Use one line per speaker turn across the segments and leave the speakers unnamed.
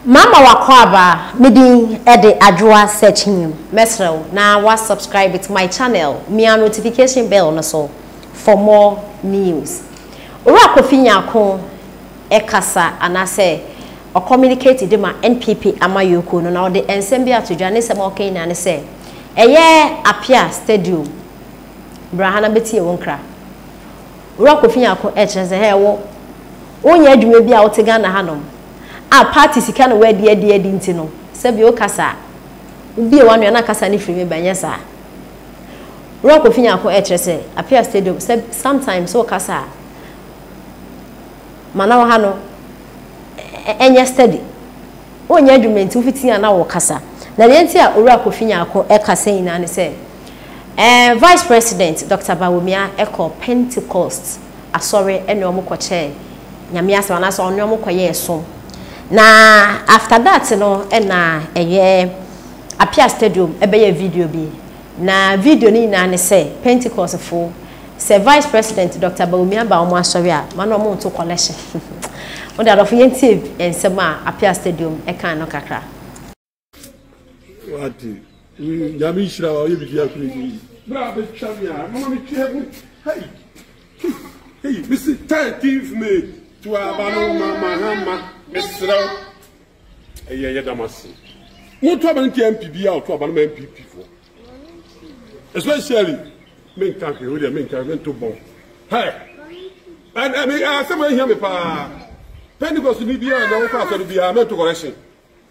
Mama w'akwaaba me din de Adwoa Sekyim mɛsrɛ wo na wa subscribe to my channel mia notification bell no so for more news Owura Kofi Nyarko kasa anaasɛ ɔ communicate de ma NPP amayɔkuo no na ɔde nsɛm bi ato dwa ne nsɛm a ɔka nyinaa ne sɛ ɛyɛ Apia stadium bra ha na bɛtie wo nkra Owura Kofi Nyarko kyerɛ sɛ hɛ wo wonyɛ adwuma bi a wote Ghana hanom a party sika na wadi adi adi nti no sɛbi wo kasa a wo bie w'anua na kasa no firi me ba nyɛ saa wura kofi nyako ɛkyerɛ sɛ apia stadium sɛ sometimes wo kasa a ma na wo ha no ɛnyɛ steady wo nyɛ adwuma nti wo fiti a na wo kasa na deɛ nti a wura kofi nyako ɛkasa nyinaa ne sɛ ɛɛ eh, vice president dr bawumia ɛkɔ pentecost asɔre ɛne ɔmo kɔkyɛɛ Nyame asɛm anaasɛ ɔne ɔmo kɔyɛɛ som na after that no ɛna ɛyɛ Apia stadium ɛbɛyɛ video bi na video no nyinaa ne sɛ Pentecost fo sɛ vice president Doctor Bawumia aba ɔmo asɔre a ma na ɔmo nto collection mo de adɔfo yɛntie nsɛm a Apia stadium ɛkae no kakra.
wate nyame nhyira wa ɔyɛ biribi akoro yi berɛ a bɛtwa me a mama metwea mu hei hei mese 13th may to aba no ma mahama meserɛ wo ɛyɛ yɛ dam ase moto aba no ntia mpi bi a ɔto aba no ma mpp foɔ especially menka hwee wodeɛ menka mento bɔ hɛ asɛm ahia me paa pentecost ni biara na wokɔ asɔre biara mento correction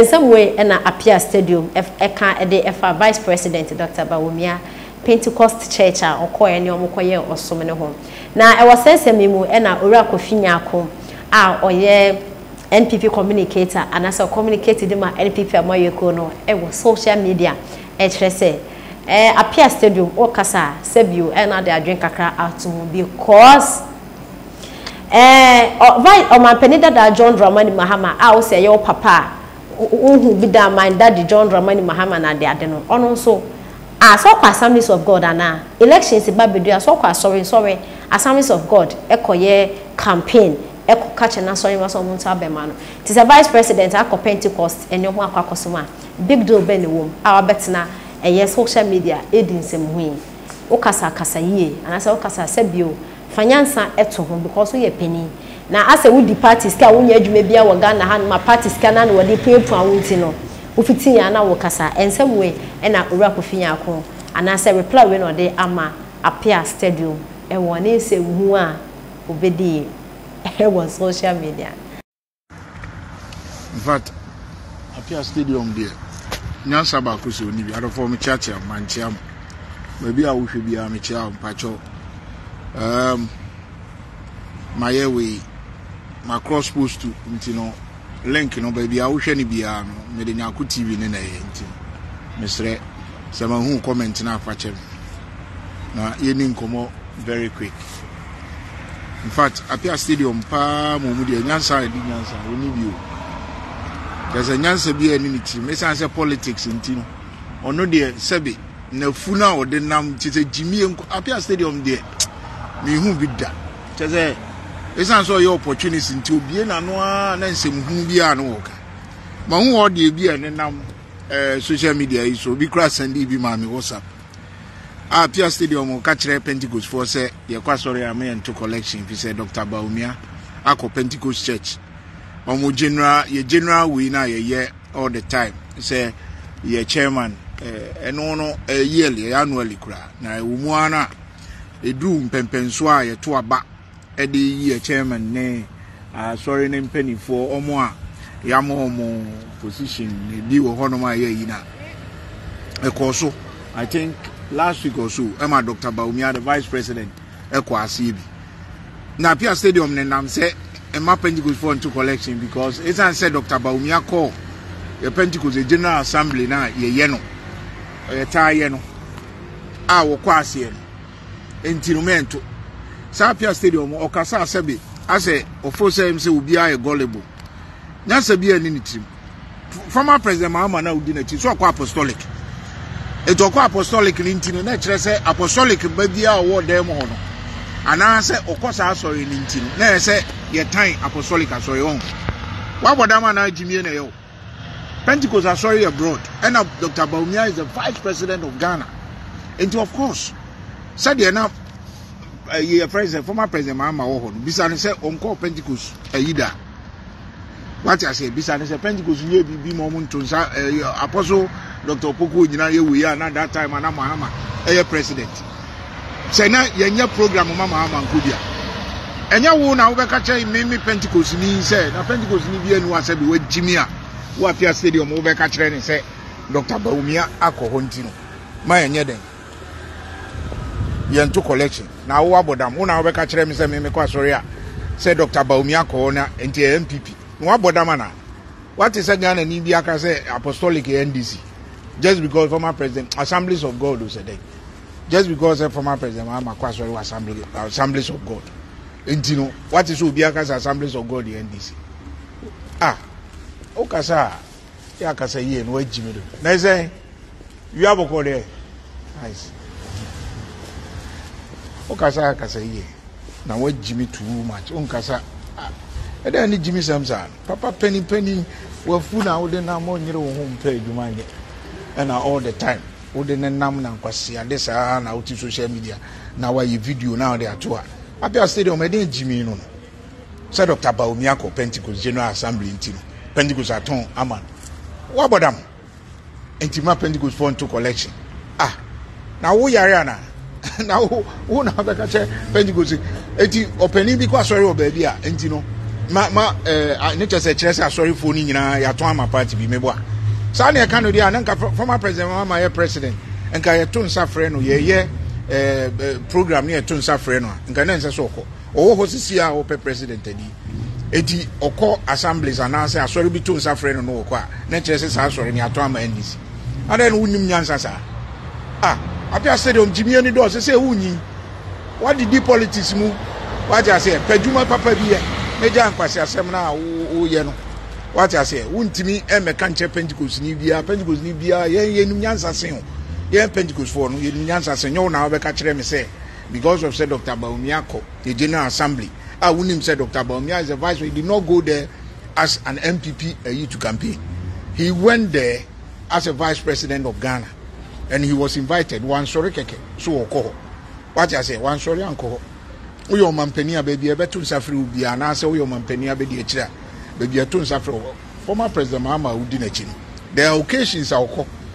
Nsɛm wei na Appiah Stadium ka de fa Vice President Doctor Bawumia Pentecost Church a ɔkɔeɛ ne wɔn kɔyɛɛ ɔsom no ho. Na wɔ saa nsɛm yi mu na Owura Kofi Nyarko a ɔyɛ NPP communicator anaasɛ ɔcommunicate de ma NPP amanyɔkuo no wɔ social media ɛkyerɛ sɛ Appiah Stadium ɔkasa a sɛbio na ɔde adwene kakra ato mu because Ɛɛ ɔ Vice Ɔmanpanin Dada John Dramani Mahama a wose ɛyɛ wo papa a wohu bi daa my daddy John Dramani Mahama no ade ade no ɔno nso ah sɛ ɔkɔ Assemblies of God anaa? Elections ba bɛdu a sɛ ɔkɔ asɔre nsɔre Assemblies of God kɔyɛ campaign kɔka kyerɛ n'asɔre mma sɛ wɔn nso abɛma no nti sɛ Vice President akɔ Pentecost ne wɔn akɔ akɔsom a big deal bɛn na ɛwɔ mu a wabɛtena ɛyɛ social media redi nsɛmhu yi? Wokasa kasa yie anaasɛ wokasa sɛbio Fa nyansa to ho because woyɛ panin na asɛ wodi party sika a wonyɛ adwuma biara wɔ Ghana hanom a party sika no ara na wɔde puapua wo nti no wofiti yɛn ana wokasa nsɛm wei ɛna Owura Kofi Nyarko anaasɛ reply wei na ɔde ama Apea Stadium ɛwɔ ne nsɛmhu a obedie wɔ social media.
in fact apia stadium deɛ nyansa baako sɛ ɔni bi adɔfoɔ mo kyeakyea mo mankyea mo baabi a wohwɛ biara mekyea wo mpakyɛw um, mayɛ wei ma cross post to nti no link no baabi a wohwɛ no biara no mede nyako tv ne na ɛyɛ nti mesrɛ sɛ mahu comment no afakyɛ me na yɛni nkɔmmɔ very quick infact apia stadium paa ma ɔmu deɛ nyansa a ɛdi nyansa ɔni bi o kyerɛ sɛ nyansa bi a ɛne ne tirim ɛsiane sɛ politics nti no ɔno deɛ sɛbe nafu no a ɔde nam kyerɛ sɛ gyimie nko apia stadium deɛ mehu bi da kyerɛ sɛ ɛsiane sɛ ɔyɛ opportunist nti obie n'ano a na nsɛm hunu bi a na wɔka ma hu hɔ deɛ bi a ɛne nam eh, social media yi so obi kora sɛnde bi ma me whatsapp Ah Pia Stadium mo ka kyerɛ Pentecost foɔ sɛ yɛkɔ asɔre a mo yɛ nto collection fi sɛ Dr. Bawumia akɔ Pentecost church ɔmo general yɛ general wei na yɛyɛ all the time sɛ yɛ chairman ɛno no yearly ɛyɛ annually kura na ɛwɔ mu ara na ɛduru mpɛmpɛnsoɔ a yɛto aba de yɛ chairman ne asɔre no mpanimfoɔ wɔn a yɛama wɔn position bi wɔ hɔnom a yɛayi na ɛkɔɔ so i think last week or so ɛma dr baumia the vice president ɛkɔ aseɛ bi na apia stadium ne nam sɛ ɛma pentecostfoɔ nto collection because ɛsiane sɛ dr baumia kɔɔ yɛ pentecost general assembly no a yɛyɛ no yɛtaa yɛ no a wɔkɔ aseɛ no Enti no mento. Saa Apia stadium mu ɔkasa a sɛbe asɛ ɔfo sɛ ɛm sɛ obiara yɛ gullible. Nyansa biara nni ne tirim. Former President Mahama no a wodi n'akyi nso ɔkɔ apostolic. Enti ɔkɔ apostolic no nti no na ɛkyerɛ sɛ apostolic ba biara a ɔwɔ dan mu hɔ no anaasɛ ɔkɔ saa asɔre no nti no na ɛyɛ sɛ yɛtan apostolic asɔre. Ɔho? Woabɔ dam anaa gyimie na ɛyɛ wo? Pentecost asɔre yɛ broad ɛna Doctor Bawumia is the vice president of Ghana nti of course sɛdeɛ na ɛyi eh, yɛ fɛn sɛ former president Mahama wɔ hɔ no bisa ne sɛ ɔnkɔɔ Pentecost ɛyi da wate aseɛ bisa ne sɛ Pentecost yɛ biribi ma ɔmo nto nsa ɛyɛ eh, apɔso Doctor Opoku nyinaa yɛ wei a na that time ana Mahama ɛyɛ president sɛ na yɛnyɛ program ma maa mankɔ bi a, ɛnyɛ wo na wobɛka kyerɛ me me Pentecostni sɛ na Pentecostni bi anu asɛ bi wagyi me a wɔ Apia Stadium wobɛka kyerɛ ne sɛ Dr. Bawumia akɔ hɔ nti no ma yɛnyɛ dɛn yɛnto collection na awo abɔ dam wo na wobɛka kyerɛ me sɛ me mekɔ asɔre a sɛ Dr. Bawumia akɔ hɔ na nti ɛyɛ MPP na wabɔ dam anaa wate sɛ Ghana ni bi aka sɛ apostolic NDC just because former president assemblies of God o sɛ dɛn just because sɛ former president wa ma kɔ asɔre wɔ assembly assemblies of god nti no wate sɛ obi akasa assemblies of god yɛ ndc ah wokasa a yɛ akasa yie no wagyi me do na ɛsɛn wia bɔkɔ deɛ nice wokasa akasa yie na wagyi me too much wonkasa ɛdɛ ne gyimi sɛm saa papa panipani wafu na wode nam ɔnyere wo ho mpɛ adwuma nyɛ ɛna all the time wo de ne nam na nkwasiade saa na wote social media na wayɛ video na wode ato a abia stadium ɛdɛn gyimi no no sɛ dr baomi akɔ pentecost general assembly nti no pentecost atɔn ama no wabɔ dam nti ma pentecost fɔ nto collection ah na wo yare ana na wo wo na abɛka kyɛ pentecost eti ɔpanyin bi kɔ asɔre wɔ baabi a nti no ma ma ɛɛ eh, ne kyɛ sɛ kyerɛ sɛ asɔrefoɔ no nyinaa yɛatɔn ama party bi meboa saa na ɛka no deɛ a na nka former president mama yɛ president nka yɛto nsa frɛ no yɛyɛ ɛɛ eh, eh, program ne yɛto nsa frɛ no a nka na nsɛ sɛ ɔkɔ ɔwɔ hɔ sisi a ɔpɛ president adi eti ɔkɔ assemblies anaasɛ asɔre bi to nsa frɛ no no ɔkɔ a na kyerɛ sɛ saa asɔre no yɛatɔn ama ndc Adɛn na wonnim nyansa saa? Ah, Apia Stadium, gyimi ani dɔ, sɛ sɛ wonyin. Wadidi politics mu, wate aseɛ, pɛ dwuma papa bi yɛ, na gya nkwaseasɛm no a woyɛ no. Wate aseɛ, wontumi mmɛka nkyɛ Pentecostni biara, Pentecostni biara, yɛn yɛnim nyansa sen o. Yɛn Pentecostfoɔ no, yɛnim nyansa sen, nyɛ wo na wobɛka kyerɛ me sɛ, because of sɛ Dr. Bawumia kɔ the General Assembly, a wonim sɛ Dr. Bawumia is the vice, he did not go there as an NPP ayi to campaign he went there as a vice president of Ghana and he was invited wansɔre kɛkɛ so ɔkɔ hɔ wate aseɛ wansɔre ankɔ hɔ woyɛ ɔmampanin a baabi a ɛbɛto nsa frɛ wo biara anaasɛ woyɛ ɔmampanin a bɛdi akyire a baabi a ɛto nsa frɛ wo former president Mahama a wodi n'akyi no there are occasions a ɔkɔ